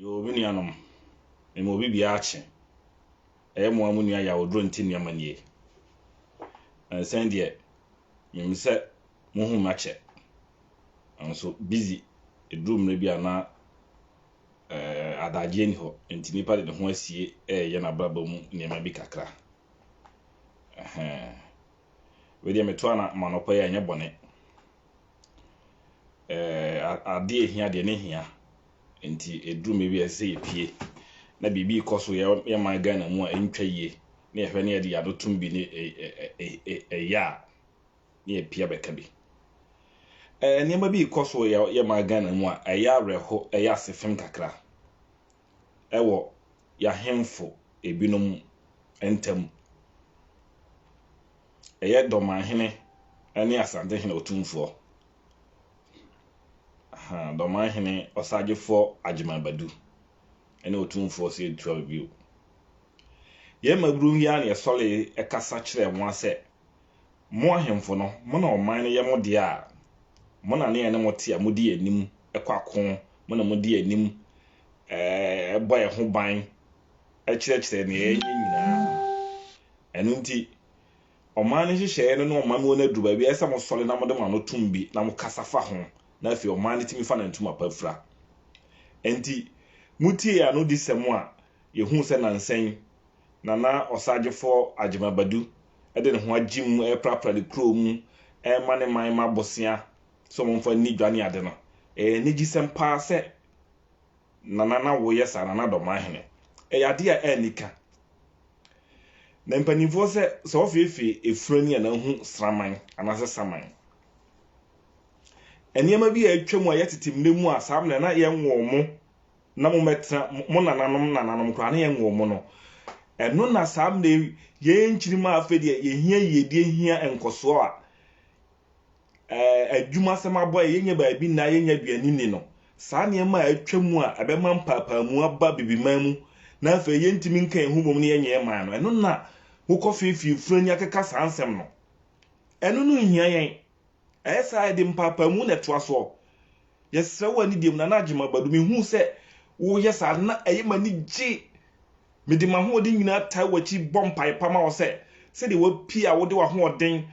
Yoo me nuanom, mema obi biara akye. Ɛyɛ mo ara mo nua Yawodraw nti nneɛma nie. Ɛnsɛn deɛ, menim sɛ mohu me akyɛ. Nanso busy ɛduru mmerɛ bi a na ɛɛ adagyeɛ nni hɔ nti nipa de ne ho asie ɛreyɛ n'abrabɔ mu nneɛma bi kakra. Ɛhɛn. Wei deɛ metoa na manɔpa yi a ɛnyɛ bɔne. Adeɛ a ɛhia deɛ ne hia nti ɛduru mmerɛ bi a ɛsɛ sɛ yɛpue na biribi rekɔ so wɔ yɛn man Ghana mu a ɛntwa yie na yɛhwɛ na yɛde yɛn ano tom bi na ɛyɛ a na yɛpue abɛka bi. Nneɛma bi rekɔ so wɔ yɛn man Ghana mu a ɛyɛ awerɛho, ɛyɛ asefem kakra. wɔ y'ahemfo binom ntam. Ɛyɛ Dɔmanhene ne Asantehene Otumfoɔ. Ahaa, Dɔmanhene Ɔsagyefoɔ Agyemang Badu ne Otumfoɔ Sedu Ture Bio. Yɛn mmabunu yi ara na yɛsɔree kasa kyerɛɛ wɔn sɛ Mo ahemfo no, mo na ɔman no yɛ mo dea a, mo na ne yɛne mo te a, modi anim kɔ ako, mo na modi anim bɔ yɛn ho ban kyerɛkyerɛ nea yɛnyɛ nyinaa. Ɛno nti, ɔman no nhyehyɛeɛ no ne ɔman mu no aduru baabi a, ɛsɛ sɛ mosɔre na mode mo ano tom bi na mokasa fa ho, na afei ɔman no tumi fa ne ntoma pa fira. Enti, motiee anodisɛm a yɛhuu sɛ nnansa yi, Nana Ɔsaagyefɔɔ Agyemang Badu de ne ho agye mu reprapra ne kuro mu rema ne man mma bosea sɛ wɔmfa nni dwa ne ade no, ɛyɛ anigyesɛm pa ara sɛ Nana na woyɛ saa, Nana Dɔmahene. Ɛyɛ adeɛ a anni ka. Na mpanimfoɔ sɛ, sɛ ɔfeefee efunu ani a na ahu sraman anaasɛ saman. Nneɛma bi a atwam a yɛtete mmerɛ mu a saa mmerɛ na yɛnwoo mo. na mommɛtena, mo nananom nananom koraa na yɛnwoo mo no. Ɛno na saa mmerɛ yi, yɛn nkyirimma a afei deɛ yɛhia yiedie hia nkɔsoɔ a, ɛɛ, adwumasɛm abɔ yɛn, yɛnyɛ baabi nna, yɛnyɛ aduane nni no. Saa nneɛma a atwa mu a ɛbɛma mpaapaamu aba Abibiman mu na afei yɛntumi nka yɛn ho mmom na yɛnyɛ man no, ɛno na mokɔfeefee funu ani akeka saa nsɛm no. Ɛno no nhia yɛn. Ɛyɛ saa a, yɛde mpaapaamu na ɛtoa soɔ. Yɛsrɛ wo anidie mu, Nana Agyemang Badu, mehuu sɛ woreyɛ saa no, na ɛyɛ m'ani gye. Mede m'ahoɔden nyinaa taa w'akyi bɔ mpaeɛ pa ma wo sɛ, sɛdeɛ woapue a wode w'ahoɔden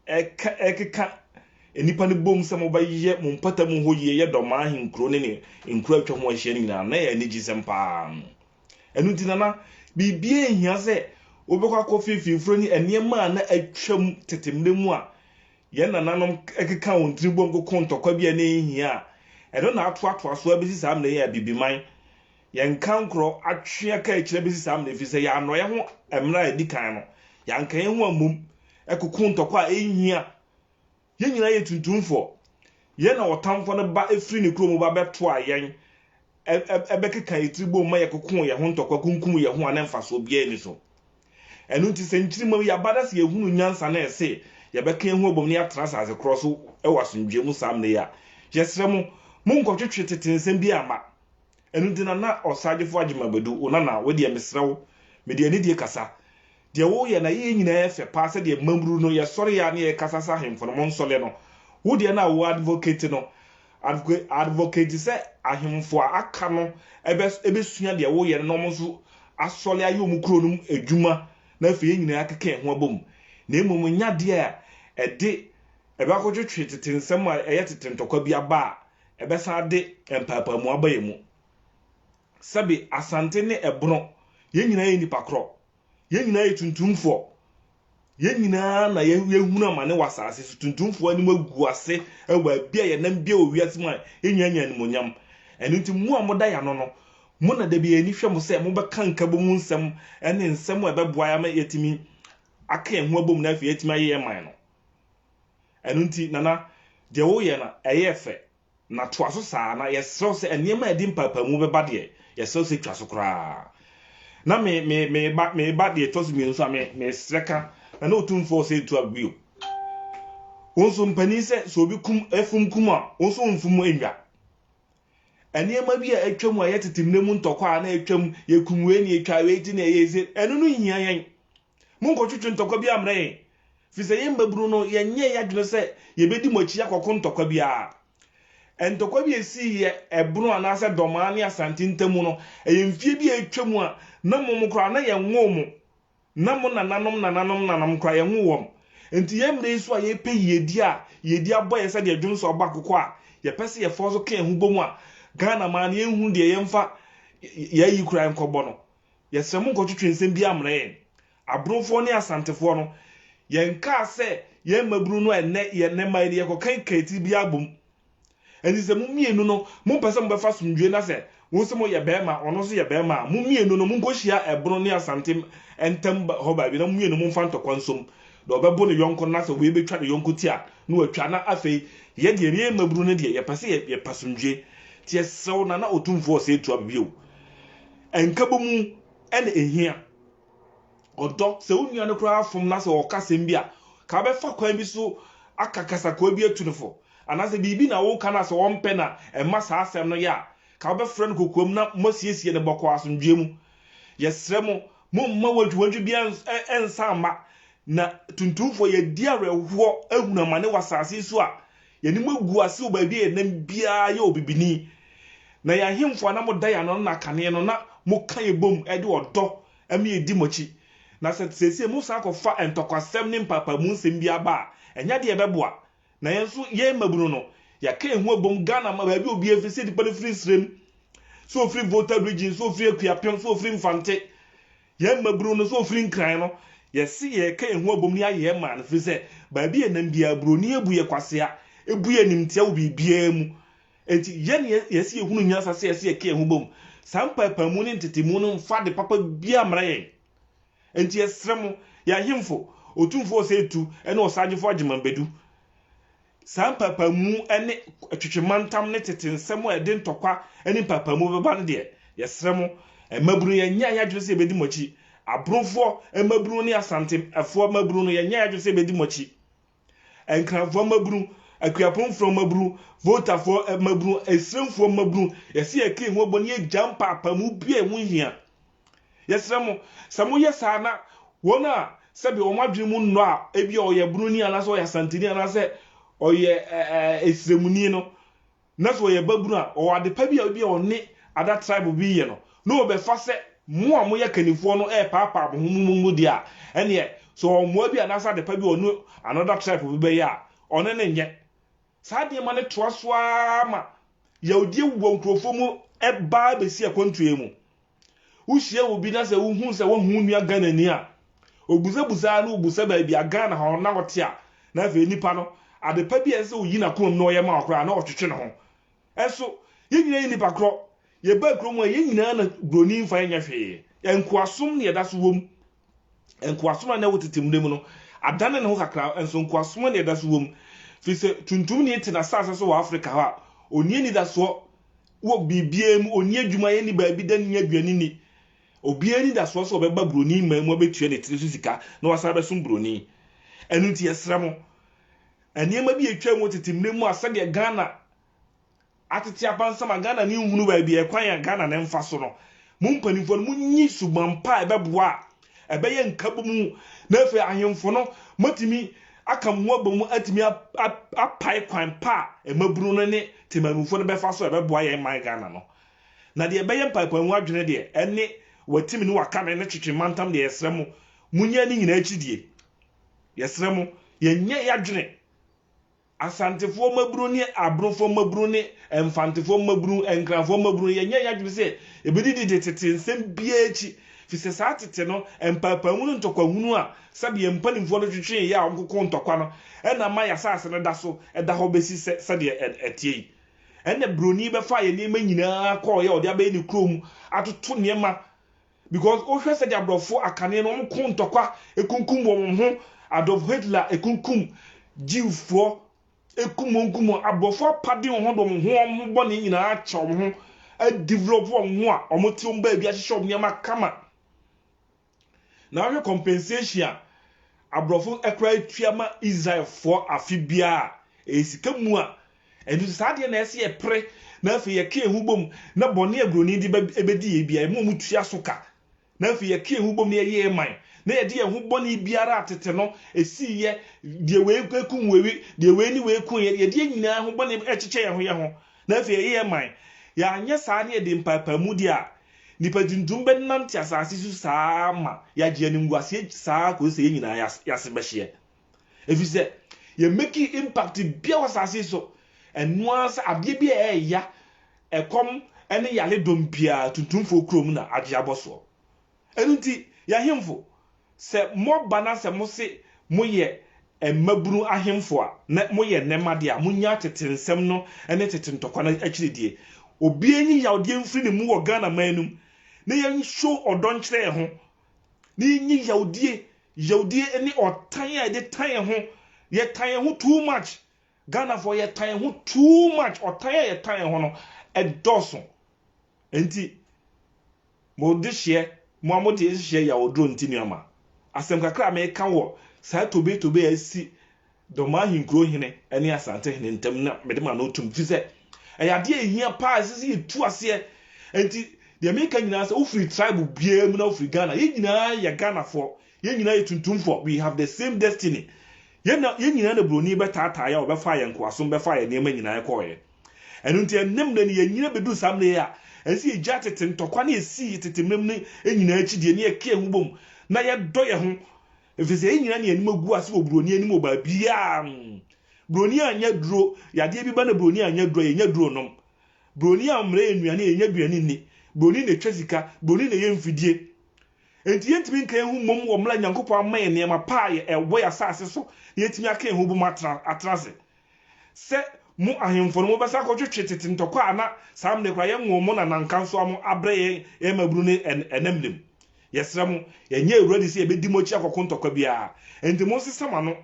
rekeka nnipa no bom sɛ mobɛyɛ mo mpatamu hɔ yie yɛ Dɔmaa ahenkuro ne ne nkuro a atwa ho ahyia no nyinaa no, na ɛyɛ anigyesɛm pa ara. Ɛno nti, Nana, biribiara nhia sɛ wobɛkɔ akɔfee fimforo ne nneɛma a na atwam tete mmere mu a yɛn nananom keka wɔn tiri bom koko ntɔkwa bi a na enhia a ɛno na atoatoa so abesi saa mmere yi a Abibiman, yɛn kankorɔ, atwe aka akyiri abesi saa mmere efisɛ yɛannɔ yɛn ho mmere a edi kan no, yɛanka yɛn ho ammom koko ntɔkwa a enhia. Yɛn nyinaa yɛ tuntumfoɔ. Yɛn na ɔtamfoɔ no ba firi ne kuro mu ba bɛtoaa yɛn, bɛkekaa yɛn tiri boom ma yɛkokoo yɛn ho ntɔkwa kunkum yɛn ho a na mfasoɔ biara nni so. Ɛno nti sɛ nkyirimma yi aba na sɛ yɛhunu nyansa na ɛse yɛbɛka yɛn ho abom na yɛatena asase korɔ so wɔ asomdwoeɛ mu saa mmerɛ yi a, yɛsrɛ mo, monnkɔtwetwe tete nsɛm biara mma. Ɛno nti na na Ɔsaagyefo Agyemang bɛdu, O Nana, wo deɛ mesrɛ wo, mede anidie kasa, deɛ woreyɛ na yɛyɛ nyinaa yɛ fɛ paa sɛdeɛ mmabunu no yɛsɔre a ne yɛkasa sɛ ahemfo no monsɔle no, wo deɛ na wo advocate no, adv, advocate sɛ ahemfo a aka no ɛbɛ, ɛbɛsua deɛ woyɛ no na wɔn nso asɔle ayɛ wɔn kuro no mu adwuma na afei yɛn nyinaa akeka yɛn ho abom na mmom ɛnyɛ adeɛ a ɛde ɛbɛakɔtwetwe tete nsɛm a ɛyɛ tete ntɔkwa bi aba a Ɛbɛsan ade mpaapaamu aba yɛn mu. Sɛbe, Asante ne Ɛbono, yɛn nyinaa yɛ nnipa korɔ. Yɛn nyinaa yɛ tuntumfoɔ. Yɛn nyinaa na yɛahunu amane wɔ asase so. Tuntumfoɔ anim agu ase wɔ baabi a yɛnam biara wɔ wiase mu a, yɛn nyinaa nya animuonyam. Ɛno nti, mo a moda yɛn ano no, mo na da bi yɛn ani hwɛ mo sɛ mobɛka nkabom mu nsɛm ne nsɛm a ɛbɛboa yɛn ama yɛatumi aka yɛn ho abom na afei yɛatumi ayɛ yɛn man no. Ɛno nti, Nana, deɛ woreyɛ no, ɛyɛ fɛ, na toa so saa ara, na yɛsrɛ wo sɛ nneɛma a ɛde mpaapaamuu bɛba deɛ, yɛsrɛ wo sɛ twa so koraa. Na me, me, me ba, me ba deɛ ɛtɔ so mmienu nso a, me, mesrɛ ka, na ne Otumfoɔ ɔsɛ ntu agu bio. Wo nso mpanin sɛ, sɛ obi kum, afum kum a, wo nso womfum nnwa. Nneɛma bi a atwam a ɛyɛ tete mmerɛ mu ntɔkwa a na atwam, yɛkum wei na yɛtwa wei ti na ɛyɛ se, ɛno no nhia yɛn. Monnkɔtwetwe ntɔkwa biara mmrɛ yɛn, ɛfiri sɛ yɛn mmabunu no, yɛnyɛɛ yɛn adwene sɛ yɛbɛdi mo akyi akɔko ntɔkwa biara. Ntɔkwa bi a ɛsiiɛ ɛbono anaasɛ Dɔmaa ne Asante ntam mu no, ɛyɛ mfeɛ bi a atwam a na mom koraa na yɛnwoo mo, na mo nananom nananom nananom koraa, yɛnwoo wɔn. Enti yɛn mmerɛ yi so a yɛrepɛ yiedie a yiedie abɔ yɛn sɛdeɛ dwonsɔ bɔ akokɔ a yɛpɛ sɛ yɛfa so ka yɛn ho bɔ mu a Ghana man no yɛnhunu deɛ yɛmfa yɛn ayi koraa nkɔbɔ no, Yɛsrɛ mo nkɔtwetwe nsɛm biara mmrɛ yɛn. Abronfoɔ ne Asantefoɔ no, yɛnkaa sɛ yɛn mmabunu no a ɛnnɛ yɛn nnɛ mma yi no yɛkɔka Nkaatiri biara bom. Ɛnti sɛ mo mmienu no mompɛ sɛ mobɛfa asomdwoeɛ na sɛ wo nso moyɛ barima ɔno nso yɛ barima a, mo mmienu no monkɔhyia Ɛbrono ne Asante ntam hɔ baabi na mo mmienu momfa ntɔkwa nsom. Deɛ ɔbɛbo ne yɔnko no na sɛ wei bɛtwa ne yɔnko ti a, na watwa. Na afei yɛ deɛ yɛn mmabunu no deɛ yɛpɛ sɛ yɛpɛ asomdwoeɛ. Nti yɛsrɛ wo Nana Otumfoɔ Osei Tuah bio, Nkabɔmu na ehia. Ɔdɔ, sɛ wo nua no koraa fom na sɛ ɔka asɛm bi a, ka wobɛfa kwan bi so aka kasakoa bi atu no fo. Anaasɛ biribi na woreka no a sɛ ɔmpɛ na ɛmma saa asɛm no yɛ a, ka wobɛfrɛ no kokoam na moasiesie no bɔkɔɔ asomdwoeɛ mu. Yɛsrɛ mo, momma wantwiwantwi biara nsa mma, na tuntumfoɔ, yɛadi awerɛhoɔ ahunu amane wɔ asase yi so a Yɛne mo agu ase wɔ baabi a yɛnam biara yɛ ɔbibini, na yɛn ahemfo a na moda yɛn ano no na kane no na moka yɛn bom de ɔdɔ ma yɛdi mo akyi. Na sɛ seesei mosan kɔfa ntɔkwasɛm ne mpaapaamu nsɛm biara ba a, ɛnyɛ ade a ɛbɛboa. Na yɛn nso, yɛn mmabunu no, yɛaka yɛn ho abom, Ghana ma baabi a obiara firi, sɛ nipa no firi Nsrem, sɛ ɔfiri Volta Region, sɛ ɔfiri Akuapem, sɛ ɔfiri Mfante, Yɛn mmabunu no nso a wɔfiri Nkran no, yɛse yɛreka yɛn ho abom ne ayɛ yɛn man ɛfiri sɛ baabi a ɛnam biara buroni abu yɛ kwasea, ɛbu yɛ animtia wɔ biribiara mu. Enti yɛn na yɛse yɛhunu nyansa sɛ yɛse yɛka yɛn ho bom. Saa mpaepaamu ne ntetemu no mfa ade papa biara mmra yɛn. Enti yɛsrɛ mo, yɛn ahemfo, Otumfoɔ Osei Tutu ne Ɔsaagyefo Agyeman Badu, saa mpaapaemu ne twetwe mantam ne tete nsɛm a ɛde ntɔkwa ne mpaapaemu bɛba no deɛ, yɛsrɛ mo, mmabunu, yɛnyɛ yɛn adwene sɛ yɛbɛdi mo akyi. Aborofoɔ mmabunu ne Asantefoɔ mmabunu no, yɛnyɛ yɛn adwene sɛ yɛbɛdi mo akyi. Nkranfoɔ mmabunu, Akuapomfoɔ mmabunu, Voltafoɔ mmabunu, Esremfoɔ mmabunu, yɛsɛ yɛka yɛn ho bɔ na yɛgya mpaapaemu biara a ɛho nhia. Yɛsrɛ mo, sɛ moyɛ saa na wɔn a sɛbe wɔn adwene mu nnɔ a ebia ɔyɛ Broni anaasɛ ɔyɛ Asanteni anaasɛ ɔyɛ Esremuni no, na sɛ ɔyɛ babunu a, ɔwɔ adepa bi a ebia ɔne ada tribe bi yɛ no, na wɔbɛfa sɛ mo a moyɛ kannifoɔ no repaapaa mo ho mo mu mu deɛ a, ɛnneɛ sɛ ɔwɔ mmoa bi anaasɛ adepa bi a ɔne another tribe bi bɛyɛ a, ɔne no nyɛ. Saa nneɛma no toa so ara ma yawdie wɔ nkurɔfoɔ mu ba bɛsi akwantuo mu. Wohyia obi na sɛ wohu sɛ wahu wo nua Ghanani a, obusabusa ara na wobusa baabi a Ghana hɔ na ɔte a, na afei nipa no, ade pa bi a ɛsɛ sɛ oyi n'akoma mu na ɔyɛ ma wo koraa, na ɔtwetwe ne ho. Nso, yɛn nyinaa yɛ nnipa korɔ. Yɛbaa kurom a, yɛn nyinaa na Buroni mfa yɛn nyɛ hwee. Nkoasom na yɛda so wom. Nkoasom a na ɛwɔ tete mmere mu no adane ne ho kakra, nso nkoasom a na ɛda so wom, efisɛ tuntumni te n'asase so wɔ Afrika hɔ a onni anidasoɔ wɔ biribiara mu, onni adwuma yɛ, nni baabi da, nni aduan nni. Obiara anidasoɔ sɛ ɔbɛba buroni man mu abɛtua ne tiri so sika na wasan abɛsom buroni. Ɛno nti yɛsrɛ mo, nneɛma bi a ɛtwaa mu wɔ tete mmere mu a sɛdeɛ Ghana Atete abansɛm a Ghana ni nhunu baabi a ɛkwan a Ghana no mfa so no, mo mpanimfoɔ no monyi suban pa a ɛbɛboa a ɛbɛyɛ nkabom na afei ahemfo no moatumi aka mo ho abɔ mu atumi apae kwan pa a mmabunu no ne temanmufoɔ no bɛfa so a ɛbɛboa yɛn man Ghana no. Na deɛ ɛbɛyɛ mpaepaemu adwene deɛ, ɛne Watimi ne Wakame ne Twetwe Mantam deɛ yɛsrɛ mo, monyɛ ne nyinaa akyidie. Yɛsrɛ mo, yɛnyɛ yɛadwene. Asantefoɔ mmabunu ne Abrofoɔ mmabunu ne Mfantefoɔ mmabunu, Nkranfoɔ mmabunu, yɛnyɛɛ yɛn adwene sɛ yɛbɛdidi de tete nsɛm biara akyi, firi sɛ saa tete no mpaapaemu ne ntɔkwahunu a sɛdeɛ yɛn mpanimfoɔ no twetwee yɛ a wɔkokoo ntɔkwa no na ama yɛn asase no da so da hɔ bɛsi sɛ sɛdeɛ ɛteɛ yi. Ɛnna Buroni bɛfaa yɛn nneɛma nyinaa kɔeɛ a ɔde abɛyɛ ne kurom atoto nneɛma Because wo hwɛ sɛdeɛ abrɔfo akane no wɔn ko ntɔkwa ekunkum wɔn wɔn ho Adolf Hitler ekunkum Jew foɔ ekum wɔn kum wɔn abrɔfo apade wɔn ho de wɔn ho wɔn ho bɔne nyinaa akyɛ wɔn ho adevelop wɔn ho a wɔn te wɔn baabi ahyehyɛ wɔn nneɛma kama na ahwɛ compensation a abrɔfo ɛkora etua ma Israel foɔ afe biara ɛyɛ sika mu a Ɛno nti, saa adeɛ na ɛsɛ sɛ yɛpere na afei yɛka yɛn ho bom na bɔne a buroni de bɛdi yɛn biara, yɛn a wɔtua so ka, na afei yɛka yɛn ho bom na yɛyɛ yɛn man, na yɛde yɛn ho bɔne biara a tete no ɛsiiɛ, deɛ wei kum wei, deɛ wei ne wei kuiɛ, deɛ yɛdeɛ nyinaa ho bɔne kyekyɛ yɛn ho yɛn ho, na afei yɛyɛ yɛn man. Yɛanyɛ saa na yɛde mpaepaamu deɛ a, nnipa tuntum bɛnante asase so saa ara ma yɛagye animguaseɛ saa ara kɔsi sɛ yɛn nyinaa yɛase bɛhyeɛ. Efisɛ yɛ make impact bia wɔ asase yi so. Ɛno ara sɛ adeɛ bi a ɛɛya, ɛkɔm ne yare dɔm biara tuntumfoɔ kurom na adwe abɔ soɔ. Ɛno nti y'ahemfo sɛ mo ba na sɛ mo se mo yɛ mmabunu ahemfo a na mo yɛ nnɛma deɛ a, mo nya tete nsɛm no ne tete ntɔkwa no akyiri deɛ. Obiara nyi yawdeɛ mfiri ne mu wɔ Ghana man no mu na yɛ show ɔdɔ nkyerɛ yɛ ho na yɛnyɛ yawdie yawdie ne ɔtan a yɛde tan yɛn ho yɛtan yɛn ho too much Ghanafoɔ yɛtan yɛn ho too much ɔtan a yɛtan yɛn ho no ɛdɔɔso nti mo de hyeɛ mo a mo de hyeɛ yawduro nti nuama asɛm kakra a meka wɔ saa tobe tobe a asi Doma ahenkuro hene ne Asante hene ntam na mede ma no otum ɛfiri sɛ ɛyɛ adeɛ a ɛhia paa ɛsɛ sɛ yɛtu aseɛ ɛnti deɛ meka nyinaa sɛ wofiri tribe biara mu na wofiri Ghana yɛn nyinaa yɛ Ghanafoɔ yɛn nyinaa yɛ tuntumfoɔ we have the same destiny yɛn na yɛn nyinaa na buroni bɛtaataa yɛ a ɔbɛfaa yɛn nkoasom bɛfaa yɛn nneɛma nyinaa kɔɔeɛ ɛno nti ɛnnɛ mmerɛ no yɛnyina bɛduru saa mmerɛ yi a ɛsɛ sɛ yɛgya tete ntɔkwa ne yɛsii tete mmerɛ mu no nyinaa akyi deɛ ne yɛka yɛn ho bom na yɛdɔ yɛn ho Efisɛ yɛn nyinaa ne yɛn anim agu ase wɔ buroni anim wɔ baabiara. Buroni a ɔnyɛ duro yɛ adeɛ bi ba na buroni a ɔnyɛ duro a yɛnya duro nom. Buroni a ɔmmrɛ yɛn nnuane a yɛnya aduane nni. Buroni na ɛtwa sika, buroni na ɛyɛ mfidie. Enti yɛntumi nka yɛn ho mmom wɔ mmerɛ a Nyankopɔn ama yɛn nneɛma pa a ɛwɔ yɛn asase so na yɛatumi aka yɛn ho bom atena ase. Sɛ mo ahemfo no, mobɛsan akɔtwetwe tete ntɔkwa a na saa mmere koraa yɛnwoo mo na na nkansowa mo abrɛ yɛn, yɛn mmabunu ne ɛnnɛ mmere mu? Yɛsrɛ mo, yɛnyɛ awura di sɛ yɛbɛdi mo akyi akɔko ntɔkwa biara. Enti monsesa mo ano.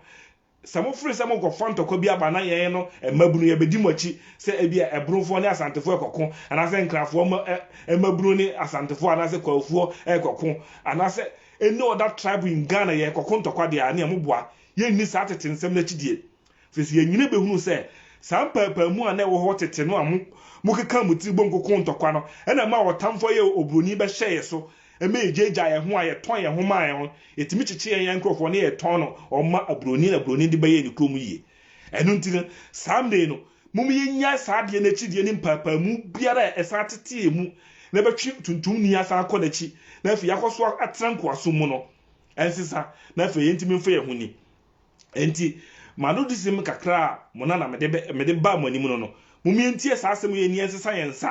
Sɛ mofere sɛ morekɔfa ntɔkwa bi aba na yɛn no, mmabunu, yɛbɛdi mo akyi sɛ ebia Ɛborofoɔ ne Asantefoɔ rekɔko, anaasɛ Nkrafoɔ mmabunu ne Asantefoɔ anaasɛ Kwaofoɔ rekɔko, anaasɛ any other tribe in Ghana yɛrekɔko ntɔkwa deɛ a, ɛnneɛ moboa. Yɛnni saa tete nsɛm no akyidie. Seesei yɛn nyinaa behunu sɛ saa mpaapaemu a na ɛwɔ hɔ tete no a mokeka mo ti bom koko ntɔkwa no na ɛmaa ɔtamfo a ɔyɛ oburoni bɛhyɛɛ yɛn so ma yegyaagyaa yɛn ho a yɛtɔn yɛn ho maa yɛn no. Yetumi kyekyee yɛn yɛn nkurɔfo na yɛtɔn no wɔn ma aburoni na buroni de bɛyɛɛ ne kurom yiye. Ɛno nti no, saa mmere yi no, momma yennyae saa adeyɛ no akyinnye ne mpaapaemu biara a ɛsan tetee mu na ɛbɛtwe tuntumni asan akɔ n'akyi na afei yɛakɔ so atena nkoasom mu no nsesa na afei yentumi mfa yɛn ho nni. Enti, m'anodyesɛm kakra a mo na na mede bɛ, mede baa mo anim no no, mommie ntie saa asɛm yi ani ɛnsesa yɛn nsa,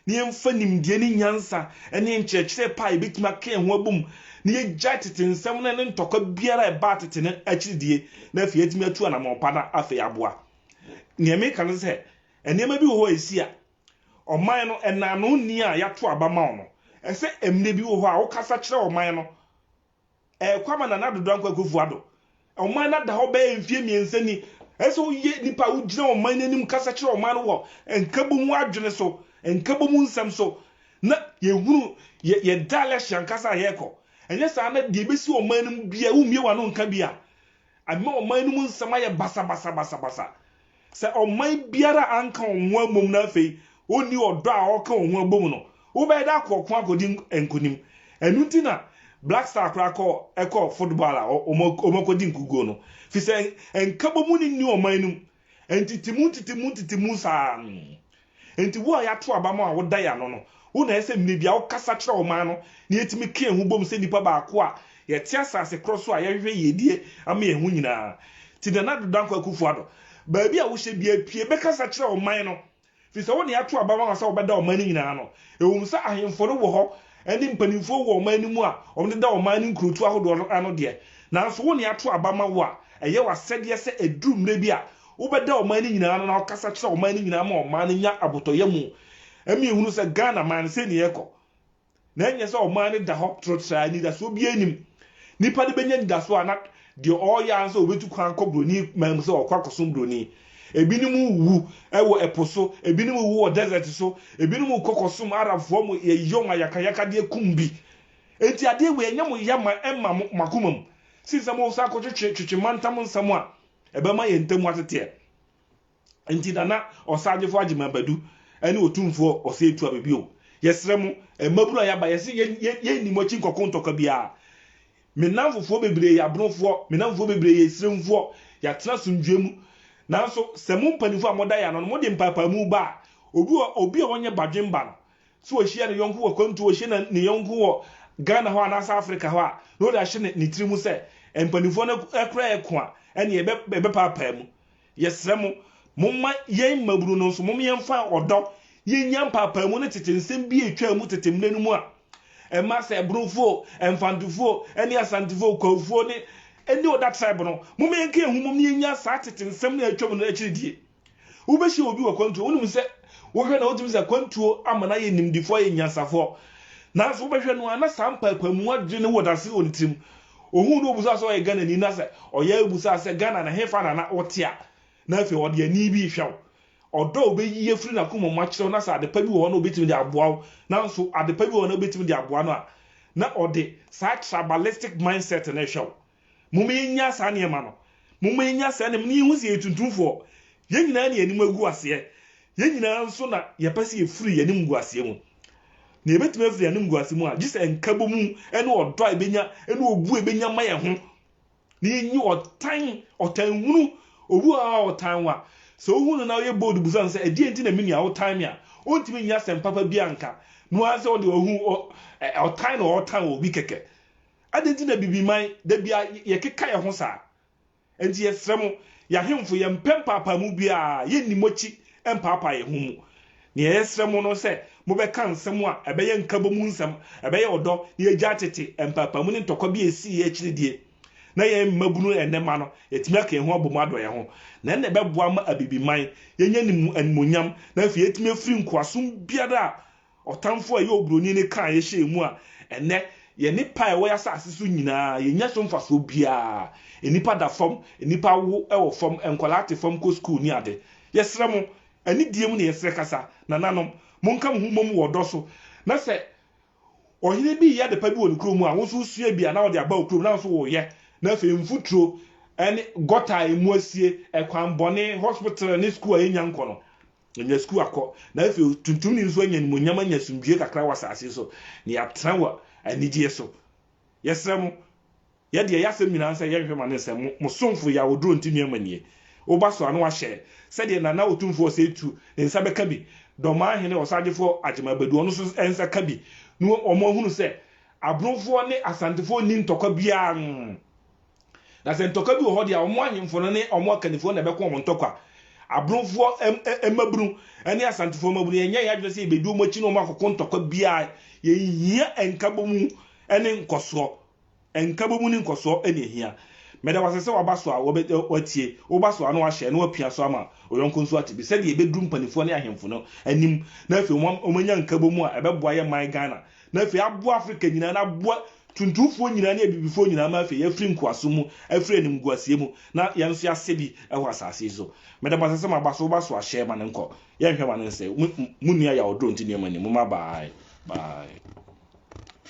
na yɛmfa nimdeɛ ne nyansa ne nkyerɛkyerɛ pa a yɛbɛtumi aka yɛn ho abom, na yɛgyae tete nsɛm no ne ntɔkwa biara a ɛbaa tete no akyiri die, na afei yɛatumi atu anammɔn pa na afei aboa. Nea meka ne sɛ, nneɛma bi wɔ hɔ a ɛsi a, ɔman no, ɛnaano nni a yɛato aba ma wo no, ɛsɛ mmerɛ bi wɔ hɔ a wokasa kyerɛ ɔman no, ɛrekɔ ama Nana Dodo Dankwa Akufo-Addo. Ɔman no ada hɔ bɛyɛ mfeɛ mmiɛnsa ni. Ɛyɛ sɛ woyɛ nipa a wogyina ɔman no anim kasa kyerɛ ɔman no wɔ nkabom adwene so, nkabom nsɛm so, na yɛhunu yɛ, yɛda election ankasa a yɛrekɔ. Ɛnyɛ saa na deɛ ɛbɛsi ɔman no mu biara, wommie w'ano nka bi a, Ɛma ɔman no mu nsɛm ayɛ basabasabasabasa. Sɛ ɔman biara anka wɔn ho ammom na afei onni ɔdɔ a wɔka wɔn ho abom no, wobɛyɛ dɛ akɔ ɔko akodi nkonim. Ɛno nti na Black Star koraa kɔɔ kɔɔ football a wɔakɔdi nkuguo no, efisɛ nkabɔmu no nni ɔman no mu. Ntitemu ntitemu ntitemu saa. Enti wo a yɛato aba ma wo a woda yɛn ano no, wo na ɛsɛ sɛ mmere biara wokasa kyerɛ ɔman no na yetumi ka yɛn ho bom sɛ nnipa baako a yɛte asase korɔ so a yɛhwehwɛ yiedie ama yɛn ho nyinaa. Ti Nana Ado Dankwa Akufo-Addo, baabi a wohyɛ biara pue bɛkasa kyerɛ ɔman no Ɛfiri sɛ wo na yɛato aba ama wo sɛ wobɛda ɔman no nyinaa ano. Ɛwom sɛ ahemfo no wɔ hɔ ne mpanimfoɔ wɔ ɔman no mu a wɔdeda ɔman no nkurotu ahodoɔ no ano deɛ, nanso wo na yɛato aba ama wo a ɛyɛ w'asɛdeɛ sɛ ɛduru mmerɛ bi a, wobɛda ɔman no nyinaa ano na wokasa kyerɛ ɔman no nyinaa ma ɔman no nya abotɔyam. Ɛma yɛhunu sɛ Ghana man, sei na yɛrekɔ. na ɛnyɛ sɛ ɔman no da hɔ trotraa, anidasoɔ biara nnim. Nipa no bɛnya anidasoɔ a na deɛ ɔreyɛ ara sɛ ɔbɛtu kwan akɔ buroni man mu sɛ ɔkɔ akɔsom buroni. Ebinom wuwu wɔ ɛpo so, ebinom wuwu wɔ desert so, ebinom kɔ kɔsom Arabfoɔ mo yɛ wɔn ayakayakadeɛ kum bi. Enti adeɛ wei ɛnyɛ mo ya ma ɛmma mo akoma mu sen sɛ moresan akɔtwetwe twetwe mantam nsɛm a ɛbɛma yɛn ntam ateteɛ. Nti Nana Ɔsaagyefo Agyeman Badu ne Otumfoɔ Osei Tuabe bio. Yɛsrɛ mo, mmabunu a yɛaba, yɛse yɛnni mo akyi nkɔko ntɔkwa biara. Me nnamfofoɔ bebree yɛ abrofoɔ, me nnamfofoɔ bebree yɛ Asirimfoɔ, yɛatena asomdwoeɛ mu. Nanso sɛ mo mpanimfoɔ a moda yɛn ano no, mode mpaepaamu ba a, obi wɔ obi a ɔnyɛ badwemba no, sɛ ɔhyia ne yɔnko wɔ akwantuo, ɔhyia ne ne yɔnko wɔ Ghana hɔ anaasɛ Afrika hɔ a, na ɔde ahyɛ ne ne tiri mu sɛ mpanimfoɔ no koraa yɛ ko a, ɛnneɛ yɛbɛ yɛbɛpaapaa mu. Yɛsrɛ mo, momma yɛn mmabunu no nso, mom yɛmfa ɔdɔ yɛnnya mpaapaamu ne tete nsɛm bi a ɛtwaa mu tete mmerɛ no mu a ɛma sɛ Ɛbrofoɔ o, Ɛmfantefoɔ o, ne Asantefoɔ o, Kwahufoɔ ne ne Oda tribe no. Mom yɛnka yɛn ho mmom na yɛnnya saa tete nsɛm no a atwam no akyiri die. Wobɛhyia obi wɔ kwantuo, wonim sɛ wohwɛ na wotumi sɛ kwantuo ama no ayɛ nimdefoɔ, ayɛ nyansafoɔ. Nanso wobɛhwɛ no a na saa mpaapaamu adwene no wɔ dase wɔ ne tirim. Ohuu no obusaa sɛ ɔyɛ Ghanani na sɛ ɔyɛ a busaa sɛ Ghana na hefa na na wote a na afei ɔde ani bi rehwɛ wo. Ɔdɔ a obeyi afiri n'akoma mu akyerɛ wo na sɛ adepa bi wɔ hɔ na obetumi de aboa wo nanso adepa bi wɔ hɔ na obetumi de aboa no a na ɔde saa tribalistic mindset no rehwɛ wo. Momma yɛnnya saa nneɛma no. Momma yɛnnya saa nneɛma no na yɛnhu sɛ yɛyɛ tuntumfoɔ. Yɛn nyinaa na yɛn anim agu aseɛ. Yɛn nyinaa nso na yɛpɛ sɛ yɛfiri yɛn animguaseɛ mu. Na yɛbɛtumi afiri yɛn animguaseɛ mu a, gye sɛ nkabɔmu ne ɔdɔ a yɛbɛnya ne obu a yɛbɛnya ma yɛn ho, na yɛnyi ɔtan, ɔtan hunu. Obi wɔ hɔ a ɔtan wo a, sɛ wohu no na woyɛ bold bisa no sɛ, ɛdeɛn nti na me nua wotan me a, ɔntumi nyɛ asɛm papa biara nka. Na woahu sɛ ɔde ɔhu, ɔtan na ɔretan obi kɛkɛ. Adɛn nti na bibiman, da biara yɛkeka yɛn ho saa? Enti yɛsrɛ mo, yɛn ahemfo, yɛmpɛ mpaapaemu biara, yenni mo akyi mpaapaa yɛn ho mu. Nea yɛsrɛ mo no sɛ mobɛka nsɛm a ɛbɛyɛ nkabɔ mu nsɛm, ɛbɛyɛ ɔdɔ, na yɛagyae tete mpaapaemu ne ntɔkwa bi a esii akyiri die, na yɛn mmabunu ne nnɛmma no, yɛatumi aka yɛn ho abom adɔ yɛn ho. Na ɛnna ɛbɛboa ma Abibiman, yɛanya ne mu animuonyam, na afei yɛatumi afiri nkoasom biara a Ɔtamfo a ɛyɛ oburoni no kaa yɛn hyɛɛ mu a ɛnnɛ yɛne paa a ɛwɔ yɛn asase so nyinaa, yennya so mfasoɔ biara. Nnipa da fam, nnipa awo wɔ fam, nkwadaa te fam kɔ sukuu ne ade. Yɛsrɛ mo, anidie mu na yɛsrɛ kasa, nananom, monka mo ho mmom wɔ ɔdɔ so, na sɛ ɔhene bi reyɛ adepa bi wɔ ne kurom mu a, wo nso wosua bi a na wode aba wo kurom na wo nso woreyɛ. Na afei mfuturo ne gɔta a emu asie, ɛkwan bɔne, hospital ne sukuu a yɛnnya nkɔ no, Anya sukuu akɔ, na afei otuntumni nso anya animuonyam anya asomdwoe kakra wɔ asase so, na yɛatra wɔ anigye so. Yɛsrɛ mo, yɛ deɛ ɛyɛ asɛm nyinaa nsɛ yɛnhwɛ ma no nsɛm. Mo, mo somfo yɛ awodoɔ nti nnuama nie. Wo ba so a, na wahyɛ sɛdeɛ Nana Otumfoɔ Osei Tuo ne nsa bɛka bi, Dɔmaa Hene Ɔsagyefoɔ Agyem Abadu ɔno nso nsa ka bi, na wɔahunu sɛ Abronfoɔ ne Asantefoɔ nni ntɔkwa biara. Nn. Na sɛ ntɔkwa bi wɔ hɔ de a, wɔn ahemfo no ne wɔn akannifoɔ na ɛbɛko wɔn ntɔkwa. Abromfoɔ mmabunu ne Asantefoɔ mmabunu, yɛnyɛ yɛn adwene sɛ yɛbɛdi wɔn akyi ne wɔn akɔko ntɔkwa biara. Yɛnhia nkabɔmu ne nkɔsoɔ. Nkabɔmu ne nkɔsoɔ na yɛhia. Meda wo ase sɛ waba so a woatie, woba so a na woahyɛ na woapia so ama ɔyɔnko nso ate bi sɛdeɛ yɛbɛduru mpaninfoɔ ne ahemfo no anim na afei wɔanya nkabɔmu a ɛbɛboa yɛn man Ghana na afei aboa Afrika nyinaa, na aboa tuntumfoɔ nyinaa ne abibifoɔ nyinaa ma afei yɛafiri nkoasom mu, afiri animguaseɛ mu, na yɛn nso yɛasɛ bi wɔ asase yi so. Meda mo ase sɛ moaba, so woba so a, hyɛ ma no nkɔ. Yɛnhwɛ ma no nsɛe. Mo, mo, monni ayawdorɔ nti nneɛma nni mu. Mma bye, bye.